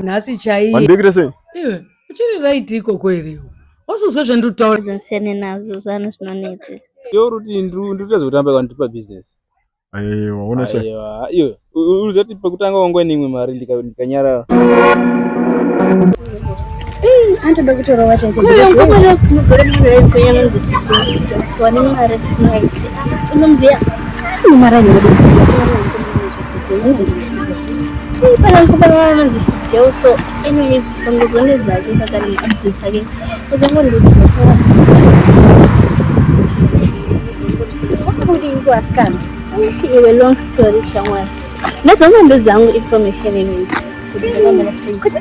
nhasi chaiye ndikuita sei iwe uchiri right ikoko here wasuzwa zvanditaura zvinosiyane nazvo zvanhu zvinonetsa iwe uri kuti ndikutadza kutamba kandipa business aiwa una cha iwe uri zati pakutanga wangwa neimwe mari ndikanyarara anotoda kutorova chaikounogara mwana wekwenyu anonzi fitisiwa nemari sinaiti unomziya nemari anonzi fideu so anyways pangozone zvake pakaneuti dzake uzongondiaa wakabudingu asikana iwe long story shamwari ndadzangondo dzangu information iwezi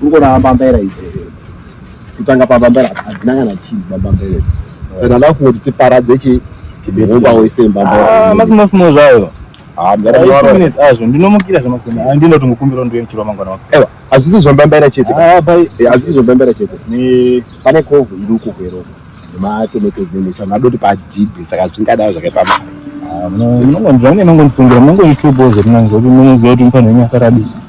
Kungorava mbambaira idzi kutanga pambambaira hadzina kana chii pambambaira saka ndava kungoti tiparadze chi hokwa wese mbambaira ah, masimosimo zvayo ah, azvo ndinomukira zvemandinoti ah, mukumbiro ndiwe muchiro wamangwana waewa hazvisi zvambambaira chete eh, hazvisi zvambambaira chete pane kovhu iri uko kweroko nematomatoes nemisa madoti padhibe saka zvingadava zvakaipa mari munongonzvange nongondifungira munongoitubo zvemunange kuti munoziva kuti mufanira nyasa radii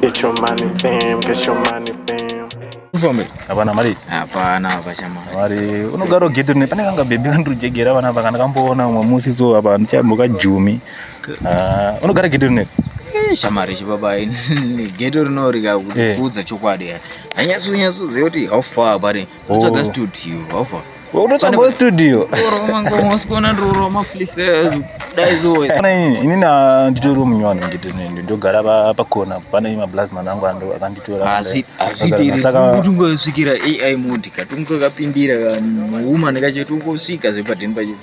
Get your money, fam. Get your money, fam. Ufambe? Hapana mari. Hapana hapa chama. Mari unogaro geto ne pane kanga baby kandu jegera vana vakana kamboona umwe musi so hapa ndichamboka jumi. Ah, unogara geto ne. Eh, shamari chibaba ini geto rinorika kudza eh. chokwadi. Anyatsu nyatsu zeyoti how far bari. Unotsvaga studio, hova. Unotsvaga studio. Unosikona ndoro maflisi ezo. Dai zoe. Kana ini ini na nditori munywana ndito nendo ndogara pa pa corner pana ima blast manangu ando akanditora. Asi asi tiri kutungo svikira AI mode katungo kapindira ka woman kacho tungo svika zvepa den pacho.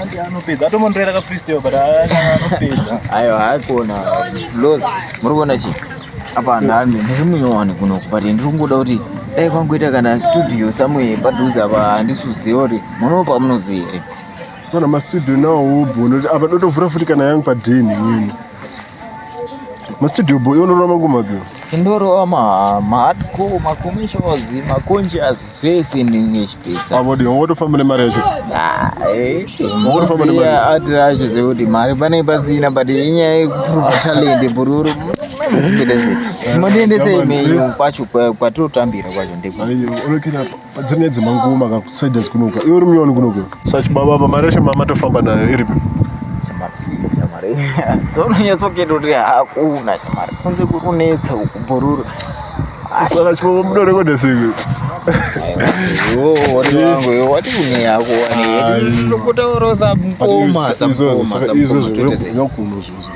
Andy anopedza atomondorera ka freestyle but anopedza. Ayo haikona loz muri kuona chi apa ndami ndiri munyowani kuno but ndiri kungoda kuti dai kwangoita kana studio somewhere padhuze apa handisuziva kuti munowo pamunozi here. Kana mastudio nawo wobona kuti apa dotovhura futi kana yangu padheni imweni. Mastudio boy unorova makumi api? Tindorova mahardcore, macomissions, maconscious zvese nechipedza. Avo dii wangotofamba nemari yacho? Wangotofamba nemari. Ati racho zvekuti mari pane pasina but inyaya yekuprova talent bururu. Zvimodendese imeyo kwacho kwatirotambira kwacho ndekwa. Dzine dzimba ngoma ka side dzikunoka. Iwe uri munyoni kunoka. Such baba baba reshe mama tofamba nayo iripi. zvaunonyatsoketa kuti hakuna chamari kunze kurunetsa ukubhururu saka chipoko mudorekoda siko watikuneyako wani tokotaorosa mkoma samkoma samkoma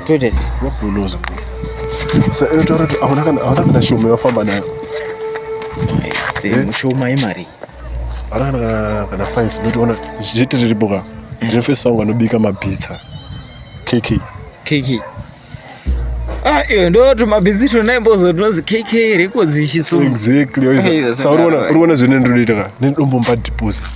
toite sei wabhuluza sa iwe taura kuti hauna kana hauna kana shoma yawafamba nayo se Eh? mushoma yemari hauna kana kana kana five ndotiona zviti riripo ka ndine first wangu anobika mapizza kk kk ah iyo ndoti mabhizi tonaye mbozo tinozi kk riko dzishiso exactly Yes, waiza sa uriona right. uriona zvine ndinoita ka nenidombomba deposit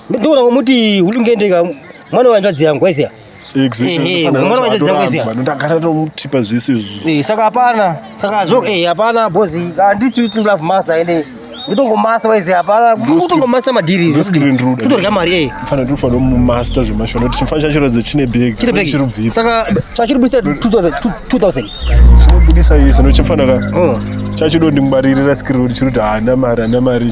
Ndinoda kumuti ulungendeka mwana wanzvadzi yangu aisiya. Mwana wanzvadzi yangu aisiya. Ndagara tomutipa zvisi izvi. Eh saka hapana. Saka azvo eh hapana boss. Handiti kuti love master ende nditongomasta waizi hapana kutongomasta madhiri kutorya mari eh. fana tinofanira kumasta zvemashona kuti chifana chacho ratidza chine bhegi chine bhegi saka chachiri budisa 2000 chinobudisa iye sino chimfanaka oh. chachido ndingwaririra skiri kuti chiri kuti haana mari haana mari